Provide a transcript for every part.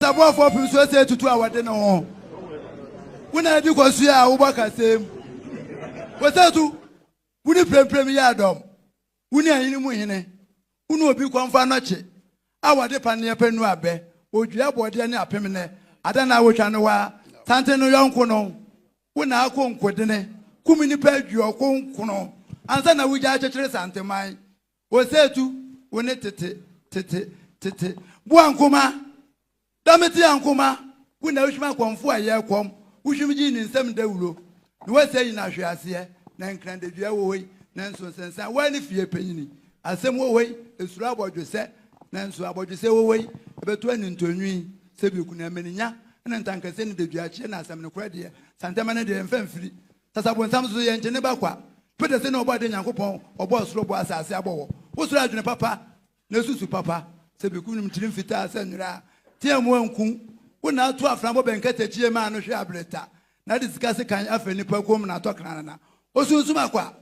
Saboafoɔ pem so asia atutu a wɔde ne ho. Wo na adi kɔ so a wobɔ kasam. Wɔsa tu, wo ne premprem yɛ adɔm. Wo ne ahene mu hene, wo ne obi kɔm fa nnɔkye a wɔde pa ne ɛpɛ nu abɛ, odua bɔɔdeɛ ne apem nnɛ, ada na wotwa no waa, santen no yɔnko no. Wo na akɔ nkodene, kum nnipa aduɔkron nkron ansa na wogyae kyekyere santeman. Osetu, wo ne tete, tete, tete. Boa Nkoma, Dɔmetea Nkoma, wo na wohwim akɔmfo a ɛyɛ kɔm, wohwim gyee ne nsam dawuro. Ne wɔsɛe nyina ahweaseɛ, na Nkrandadua wɔ hɔ yi, nanso nsensan, woa ne fie panyini. Asem wɔ hɔ yi, esuro abɔdwesɛ, nanso abɔdwesɛ wɔ hɔ yi, ɛbɛto anintɔnwi. Sɛbi okunu amaninya, ɛna ntankasɛ ne daduakyeɛ, na asem nokorɛ deɛ, santɛma no deɛ, yɛmfa mfiri. Sasa bonsam so yɛ nkyene ba kwa. Peter se na ɔbɔ ade Nyankopɔn ɔbɔ ɔsoro ɔbɔ asase abɔ wɔ wo soro adwene papa na esusu papa sɛ biku nom kyiri mfitaa sɛ nwera tea mu anku wo na ato afra bɔ bɛ nkatakyie ma ano hwe abreta na de sika sekan afra nipa kom na atɔ kranana osunsum akwa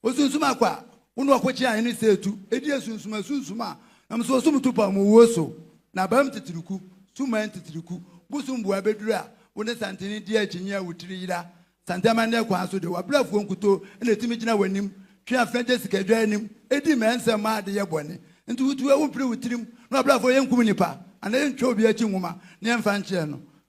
Osunsum akɔ a, wo na ɔko kyea hene sɛ tu, edi asunsum asunsum a, nam so ɔsom tu pam wuo so, na abam titiriku, suman titiriku, bosom bua bɛduru a, wo ne santene di akyinnye a wo tiri yera, santene amanneɛ kwan so de, w'abrɛfoɔ nkutoo na ɛtumi gyina w'anim, twe afena gye sikadwa anim, di mmara nsɛm ma ade yɛ bɔne, nti wo tu a, wo mpire wo tirim, na w'abrɛfoɔ yɛnkum nnipa, anaa yɛntwa obi akyi nwoma, na yɛmfa nkyerɛ no.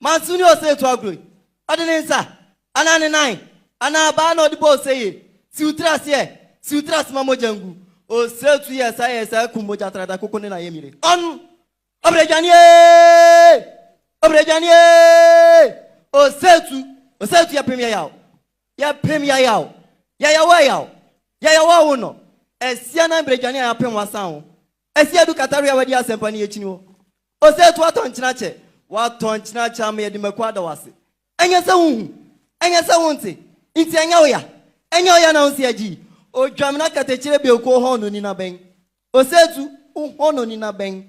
Manso ne ɔsɛ tu agorɔ yi. Ɔde ne nsa, anaa ne nan, anaa abaa na ɔde bɔ ose yie, si wo tiri ase ɛ, si wo tiri ase ma mogya ngu. Ose tu yɛ saa yɛ saa kum mogya trada koko ne na yɛ mire. Ɔn! Ɔbrɛ dwane ee! Ɔbrɛ dwane ee! Ose tu, ose tu yɛ pem yɛ yaw, yɛ pem yɛ yaw, yɛ yaw ɛ yaw, yɛ yaw ɔwo nɔ, ɛsia nan brɛ dwane a yɛ apem wa san wo, Asi adu Katari a wadi asɛmpa no yi akyi ni hɔ. Ose to atɔ nkyena kyɛ. Woatɔ nkyena kyɛ ama yɛde mako ada wo ase. Ɛnyɛ sɛ wonhu. Ɛnyɛ sɛ wonte. Nti ɛnyɛ wo ya. Ɛnyɛ wo ya na wonsi agyi yi. Odwamena katakyire biako ohɔnoni na bɛn. Ose tu ohɔnoni na bɛn.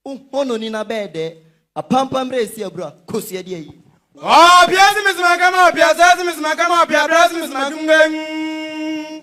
Ohɔnoni na bɛɛ dɛɛ. Apampa mmerɛ esi abura. Kosua di ayie. Ɔɔpia si me sima kama ɔpia sɛ si me sima kama ɔpia bra si me sima dum bɛn.